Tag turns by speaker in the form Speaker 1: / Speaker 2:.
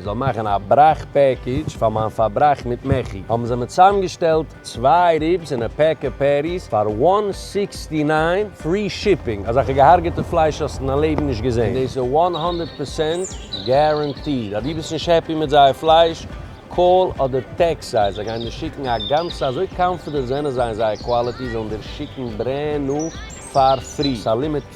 Speaker 1: זאל מאכן א בראך פעקידזש פאר מיין פארבראך מיט מעכי, האבן זיי מיר צוזאמגעשטעלט צוויי ריבס און א פעקע פעטיס פאר וואן סיקסטי ניין, פרי שיפינג, אזעלכע געהארגעטע פלייש האסט אין דיין לעבן נישט געזען, און דאס איז וואן הונדערט פערסענט גערענטיד, אז דו ביסט נישט העפי מיט זייער פלייש, קאל אדער טעקסט זיי, זיי גייען דיר שיקן א גאנצע, אזוי קאנפידענט זענען זיי אין זייער קוואליטי, זיי וועלן דיר שיקן ברענד ניו פאר פרי, ס'איז א לימיטעד.